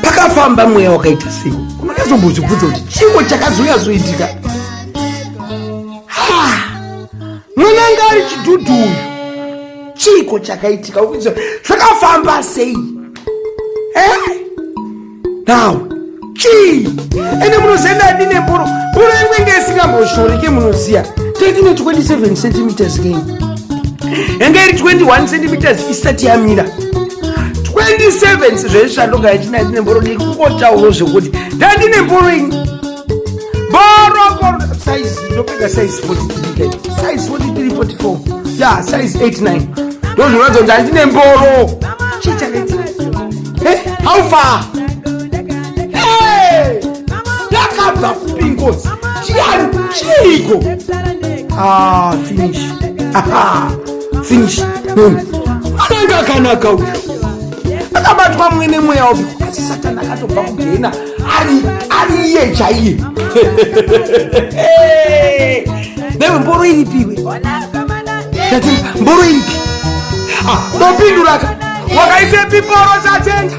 pakafamba mweya wakaita sei unonyazombozvibvudza kuti chimwe chakazonyazoitika mwana anga ari chidhudhu uyu chiko chakaitika ukuti zvakafamba sei eh? now chii ende munozienda adi nemboro mboro yekuenge isingamboshoreke munoziya taitine 27 centimeters kei yanga iri 21 centimeters isati yamira 27 zvezvishandoga yachina ndine mboro dii kungotauro zvekuti ndandine mboro ini boroboro size ndopega size 43 size 43 44 ya size 89 ndozvinoratidza kuti handine mboro chii chakaiti eh, how far yakabva kupi ngozi chiyani chiiko ah finish aha finish boom anenge akanaka uyu akabatwa mwene mweya wapi asi satani akatobva kugena ari ari iye chaiye newe mboro iripiwe tati mboro iripi Ah, ndopinduraka wakaisa piporo chatenga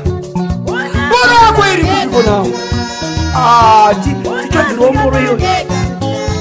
mboro yako iri kupiko nawo Ah, ti- tichobvirwa mboro iyoyo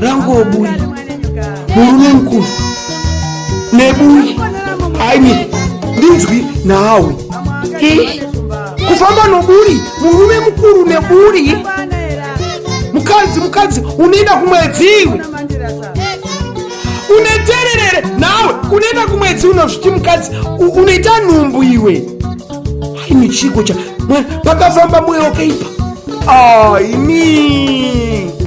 rangobuyi murume mukuru nebuyi aimi ndinzwi nawe kufamba noburi murume mukuru neburi mukadzi mukadzi unoenda kumwedzi iwe unetererere nawe unoenda kumwedzi unozviti mukadzi unoita nhumbu iwe aimi chiko cha pakafamba mweyo keipa aimi ah,